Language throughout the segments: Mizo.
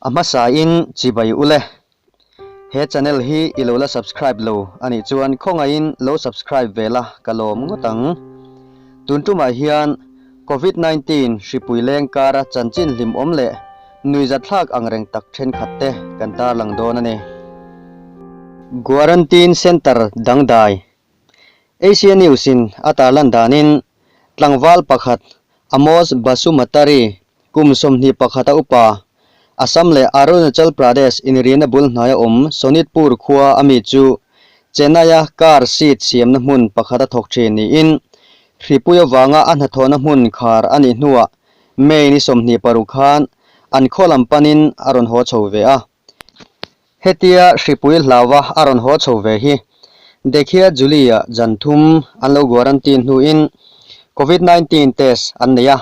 A hmasa in chibai ule. He channel hi i lo la subscribe lo a nih chuan khawngaih in lo subscribe ve la ka lawm ngawt ang. Tun tum ah hian Covid nineteen hripui leng kar a chanchin hlim awm leh nui zat thlak ang reng tak thenkhat te kan tarlang dawn a ni. Quarantine centre dangdai Asia News-in a tarlan danin, tlangval pakhat Amos Basumatary kum sawmhnih pakhata upa, Assam leh Arunachal Pradesh inriahna bul hnaia awm Sonitpur khua a mi chu Chennai-a car seat siamna hmun pakhata thawk thin niin hripui avanga a hnathawhna hmun khar a nih hnuah May-ni sawmhnih paruk khan an khawlam panin a rawn haw chho ve a. Hetia Hripui hlauva a rawn haw chho ve hi Dekhia Julie-a zan thum an lo guarantine hnuin Covid nineteen test an nei a,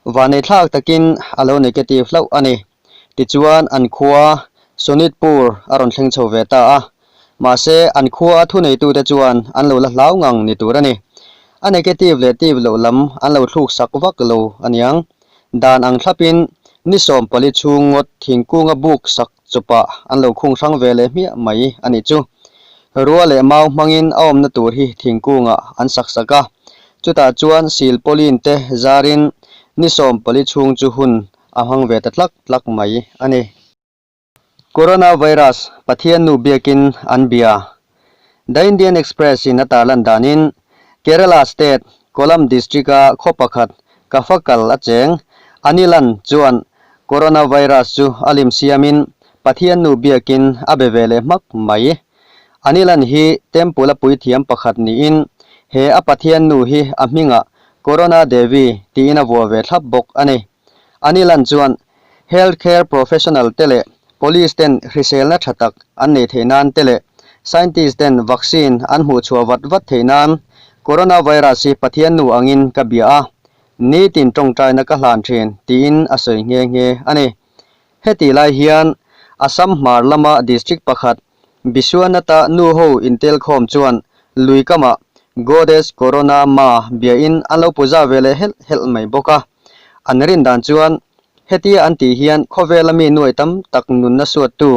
vaneitthlak takin a lo negative hlauh a ni. Tichuan an khua Sonitpur a rawn thleng chho ve ta a, mahse an khua a thuneitute chuan an lo la hlau ngang ni tur a ni. A negative leh tive loh lam an lo thluk sak vak lo a niang. Dan ang thlapin ni sawm pali chhung ngawt thingkunga buk sak chupah an lo khung hrang ve leh hmiah mai a nih chu. Rua leh mau hmangin a awmna tur hi thingkungah an sak sak a, chutah chuan sil pawlin te zarin ni sawm pali chhung chu hun a hmang ve ta tlak tlak mai a ni. Coronavirus, Pathian nu biakin an bia. The Indian Express in a tarlan danin Kerala state Kollam district a khaw pakhat ka fa kal a cheng Anilan chuan Coronavirus chu a lim siamin Pathian nu biakin a be ve leh hmak mai. Anilan hi temple a puithiam pakhat niin he a Pathian nu hi a hmingah Corona Devi tiin a vuah ve thlap bawk a ni. Anilan chuan Health Care Professional te leh Police ten hriselna tha tak an nei theih nan te leh Scientist ten Vaccine an hmuh chhuah vat vat theih nan Coronavirus hi Pathian nu angin ka bia a, nitin tawngtaina ka hlan thin tiin a sawi nghe nghe a ni. Heti lai hian Assam hmar lama District pakhat Bisuanata nu ho intelkhawm chuan lui kamah Goddess Corona Ma biain an lo puja ve leh helh helh mai bawk a. An rin dan chuan, Hetia an tih hian khawvela mi nuai tam tak nunna suattu,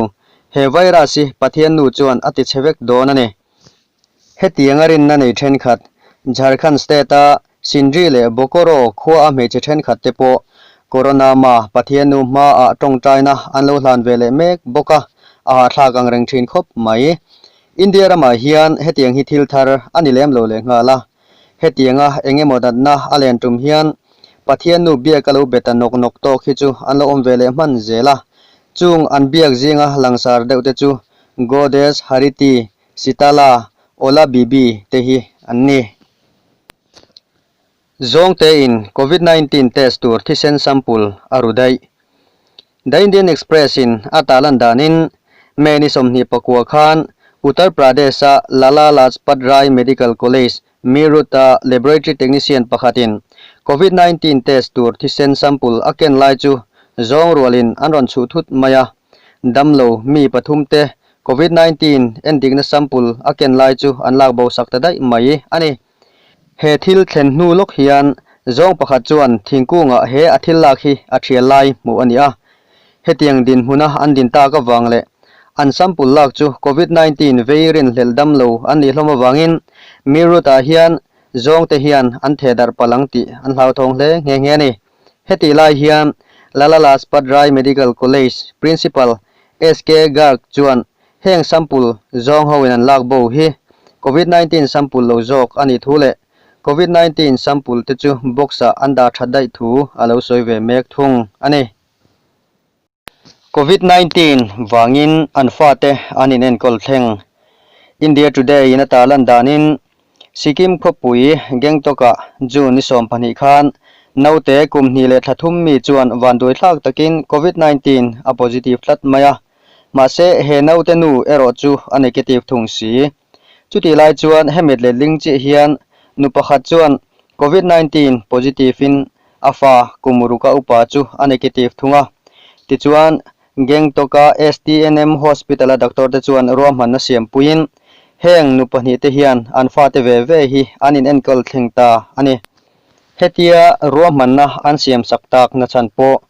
he virus-i Pathian nu chuan a ti chhe vek dawn a ni. Hetiang a rinna nei thenkhat, Jharkhand state-a Sindri leh Bokoro khua-a hmeichhe thenkhat te pawh Corona ma Pathianu hma-a tawngtaina an lo hlan ve leh mek bawk a, a hahthlak ang reng thin khawp mai. India ramah hian hetiang hi thil thar a ni lem lo lehnghal a, hetianga eng emaw natna a len tum hian Pathiannu biak a lo be ta nawk nawk tawk hi chu an lo awm ve leh hman zel a, chung an biak zinga langsar deuhte chu Goddess Hariti Sitala, Ola Bibi te hi an ni. Zawng te in Covid nineteen test tur thisen sample a ru daih. The Indian Express in a ta lan dan in May ni sawmhnih pakua khan Uttar Pradesh a Lala Lajpat Rai Medical College Meerut a laboratory technician pakhat in Covid nineteen test tur thisen sample a ken lai chu zawng rual in an rawn chhuh thut mai a. Damlo mi pathum te Covid nineteen endikna sample a ken lai chu an lak bo sak ta daih mai a ni. He thil thlen hnu lawk hian zawng pakhat chuan thingkungah he a thil lak hi a thial lai hmuh a ni a. Hetiang dinhmuna an din tak avang leh an sample lak chu Covid nineteen vei rin hlelh damlo an nih hlawm avangin Meerut-ah hian zawngte hian an thehdarh palh ang tih an hlauthawng hle nghe nghe a ni. Heti lai hian Lala Lajpat Rai Medical College Principal SK Garg chuan heng sample zawng ho in an lak bo hi Covid nineteen sample lo zawk a nih thu leh Covid nineteen sample te chu box ah an dah that daih thu a lo sawi ve mek thung a ni. Covid nineteen vangin an fate an inenkawl thleng. India Today in ata lan danin, Sikkim khawpui Gangtok-ah June ni sawm pahnih khan naute kum hnih leh thla thum mi chuan vanduaithlak takin Covid nineteen a positive tlat mai a. Mahse, he naute nu erawh chu a negative thung si. Chutih lai chuan he mitletling chiah hian nu pakhat chuan Covid nineteen positive-in a fa kum ruka upa chu a negative thung a. Tichuan, Gangtok-a STNM Hospital-a doctor-te chuan ruahmanna siam puiin heng nu pahnih te hian an fate ve ve hi an inenkawl thleng ta a ni. Hetia ruahmanna an siam sak tak nachhan pawh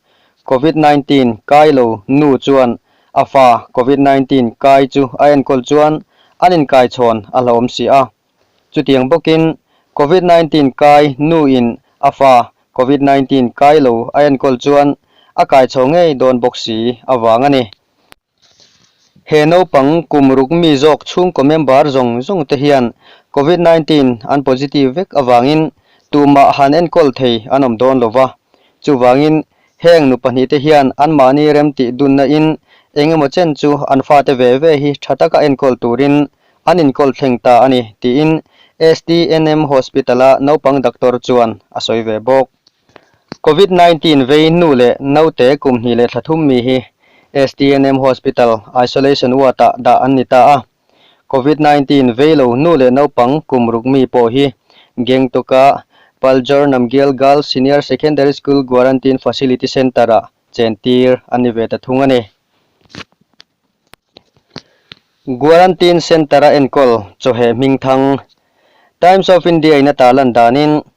Covid nineteen kai lo nu chuan A fa, Covid nineteen kai chu a enkawl chuan an inkaichhawn a hlawm si a. Chutiang bawkin, Covid nineteen kai nuin a fa Covid nineteen kai lo a enkawl chuan a kaichho ngei dawn bawk si avang a ni. He naupang kum ruk mi zawk chhungkaw member zawng zawng te hian Covid nineteen an positive vek avangin tumah han enkawl thei an awm dawn lo va, chuvangin Heng nu pahnihte hian anmahni remtih dunnain eng emaw chen chu an fate ve ve hi tha taka enkawl turin an inkawl thleng ta a ni, tiin SDNM Hospital-a naupang doctor chuan a sawi ve bawk. Covid nineteen vei hnu leh naute kum hnih leh thla thum mi hi SDNM Hospital isolation ward-ah dah an ni ta a. Covid nineteen vei lo hnu leh naupang kum ruk mi pawh hi Gangtok-a Paljar Namgyal Girls Senior Secondary School Quarantine Facility Centre-ah chen tir an ni ve ta thung a ni. Quarantine Centre-a enkawl chawheh hming thang Times of India-in ata lan danin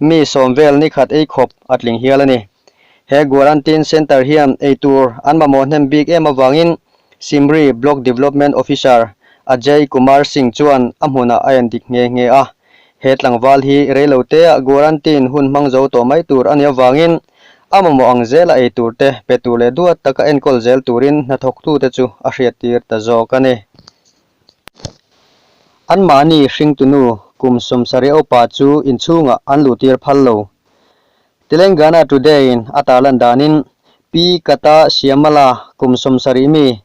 mi sawm vel ni khat ei khawp a tling hial a ni. He Guarantine Centre hian ei tur an mamawh hnem bik em avangin Simri Block Development Officer Ajay Kumar Singh chuan a hmunah a en dik nghe nghe a. He tlangval hi rei lo teah Guarantine hun hmang zo tawh mai tur a ni avangin a mamawh ang zela ei tur te pe tur leh duat taka enkawl zel turin hnathawk tute chu a hriattir ta zawk a ni. An mahni hringtunu kum sum Sariaupa chu inchhungah an luhtir phal lo. Telengana Today-in a tarlan danin Pi Kata Shyamala kum sum sarih mi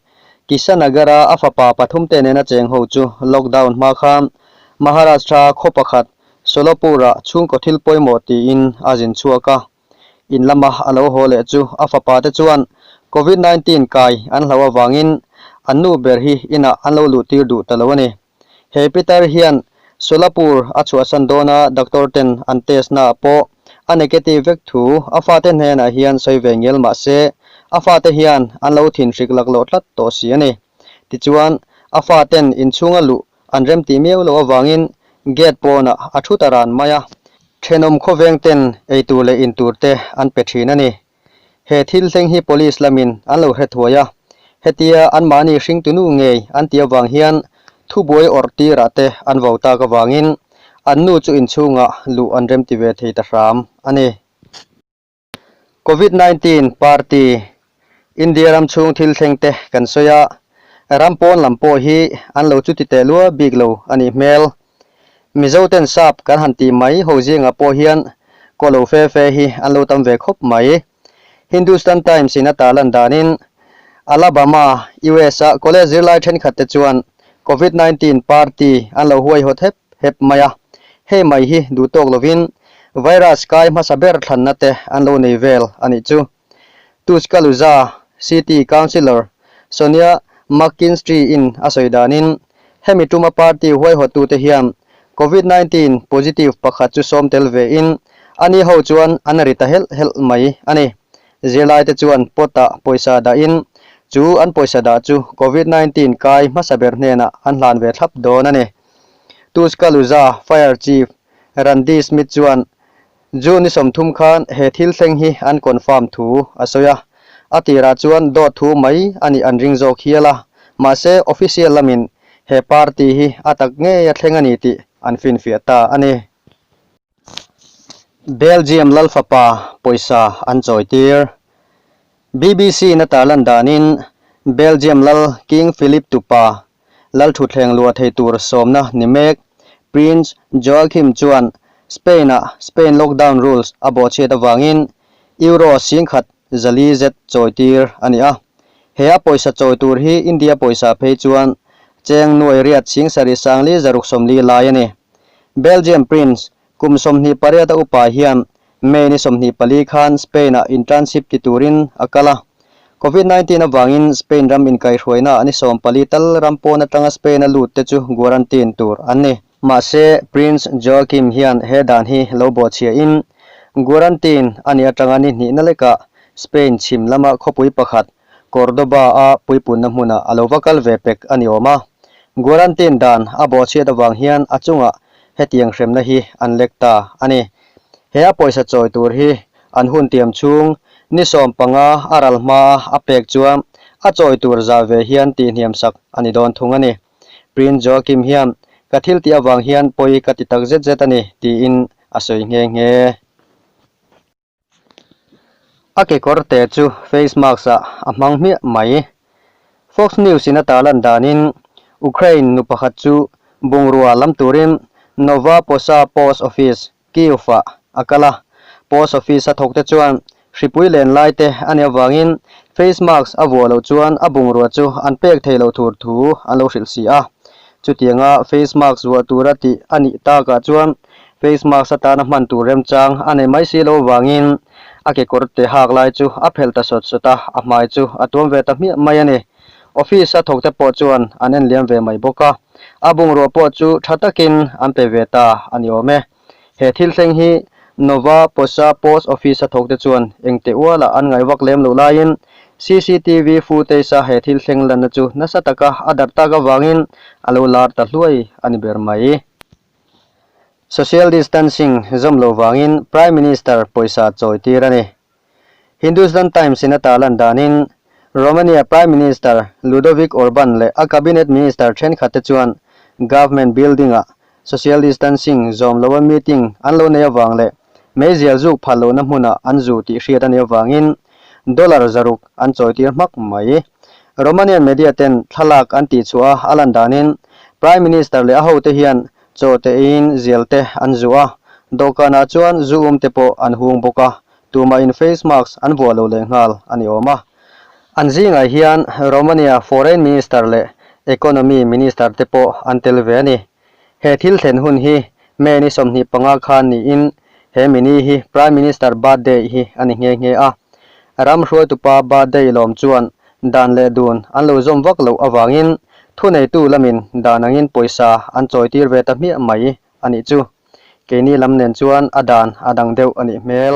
Kisanagar-a a fapa pathum te nena cheng ho chu lockdown hma kha Maharashtra khaw pakhat Solapur-ah chhungkaw thil pawimawh tiin a zin chhuak a. In lama a lo haw leh chu a fapa te chuan Covid nineteen kai an hlau avangin an nu ber hi inah an lo luh tir duh ta lo a ni. He Peter hian Solapur a chhuahsan dawn a doctor ten an test naah pawh a negative vek thu a fate hnenah hian sawi ve ngel mah se a fate hian an lo thinhrik laklawh tlat tawh si a ni. Tichuan a faten inchhunga luh an remti miau loh avangin gate pawnah a thut a ran mai a, thenawm khawveng ten ei tur leh in tur te an pe thin a ni. He thil thleng hi police lamin an lo hrethuai a, hetia anmahni hring tunu ngei an ti avang hian thubuai awrh tirah te an vo tak avangin an nu chu inchhungah luh an remti ve thei ta hram a ni. Covid nineteen party India ram chhung thil thleng te kan sawi a, ram pawn lam pawh hi an lo chuti teh luah bik lo a nih hmel. Mizo ten sap kan han tih mai ho zingah pawh hian kaw lo fe fe hi an lo tam ve khawp mai. Hindustan Times in a tar lan danin Alabama, US a college zirlai thenkhat te chuan Covid nineteen party an lo huai hawt hep. hep mai a, hei mai hi duh tawk lovin virus kai hmasa ber thlanna te an lo nei vel a nih chu. Tuscaloosa City Councillor Sonia McKinstry-in a sawi danin, hemi tuma party huaihawttute hian Covid nineteen positive pakhat chu sawm tel vein ani ho chuan an ri ta helh helh mai a ni. Zirlaite chuan pot-ah pawisa dahin chu an pawisa dah chu Covid nineteen kai hmasa ber hnenah an hlan ve thlap dawn a ni. Tuscaloosa Fire Chief Randy Smith chuan June ni sawmthum khan he thil thleng hi an confirm thu a sawi a, a tirah chuan dawt thu mai a nih an ring zawk hial a, mahse official lamin he party hi a tak ngei a thleng a ni tih an finfiah ta a ni. Belgium lal fapa pawisa an chawitir. Bbc in a tarlan danin Belgium lal King Philip tupa lal thutthleng lua thei tur sawmna ni mek Prince Joachim chuan Spain-a Spain lockdown rules a bawhchhiat avangin Euro sing khat zali zet chawitir a ni a. He a pawisa chawi tur hi India pawisa phei chuan cheng nuai riat sing sarih sanglih zaruk sawmlih lai a ni. Belgium Prince kum sawmhnih pariata upa hian May ni sawmhnih pali khan Spain-ah internship ti turin a kal a. Covid nineteen avangin Spain ram inkaihhruaina an i sawm pali tal ram pawn atanga Spain-a lut te chu guarantine tur an ni. Mahse, Prince Joachim hian he dan hi lo bawhchhiahin, guarantine a nih atanga ni hnihna lekah Spain chhim lama khawpui pakhat Cordoba-a puipunna hmunah a lo va kal ve pek a ni awm a, guarantine dan a bawhchhiat avang hian a chunga hetiang hremna hi an lek ta a ni. He a pawisa chawi tur hi an hun tiam chhung ni sawm panga a ral hmaa a pek chuan a chawi tur zah ve hian tihniam sak a ni dawn thung a ni. Prince Joachim hian ka thil tih avang hian pawi ka ti tak zet zet a ni, tiin a sawi nghe nghe. A kekawr te chu face mask ah a hmang hmiah mai. Fox News in a ta lan danin Ukraine nu pakhat chu bungrua lam turin Nova Posa Post Office, Kyiv ah a kal a. Post Office a thawkte chuan hripui len lai te a ni avangin face mask a vuah loh chuan a bungrua chu an pek thei lo thur thu an lo hrilh si a. Chutianga face mask vuah tura tih a nih takah chuan Face mask atana hman tur remchang a nei mai si lo vangin a kekawr te hak lai chu a phelh ta sawt sawt a, a hmai chu a tuam ve ta hmiah mai a ni. Office a thawkte pawh chuan an en liam ve mai bawk a, a bungrua pawh chu tha takin an pe ve ta a ni awm e. He thil thleng hi Nova Posa Post Office a thawkte chuan engte uala an ngai vak lem loh laiin CCTV footage-a he thil thleng lanna chu nasa taka a darh tak avangin a lo lar ta hluai a ni ber mai. Social distancing zawm lo vangin Prime Minister pawisa chawi tir a ni. Hindustan Times in a tar lan danin, Romania Prime Minister Ludovic Orban leh a Cabinet Minister thenkhatte chuan Government Building-ah social distancing zawm loa meeting an lo nei avang leh Meizial zuk phal lohna hmuna an zu tih hriat a ni avangin dollar zaruk an chawitir hmak mai. Romanian media ten thlalak an tihchhuah a, a lan danin Prime Minister leh a hote hian chaw tein zial te an zuh a, dawhkanah chuan zu um te pawh an hung bawk a, tumahin face mask an vuah lo leh nghal a ni awm a. An zingah hian Romania Foreign Minister leh Economy Minister te pawh an tel ve a ni. He thil thlen hun hi May ni sawmhnih panga khan niin he mini hi Prime Minister birthday hi a ni nghe nghe a. Ram hruaitupa birthday lawm chuan dan leh dun an lo zawm vak loh avangin thuneitu lamin dan angin pawisa an chawitir ve ta hmiah mai a nih chu. Keini lam nen chuan a dan a dang deuh a nih hmel.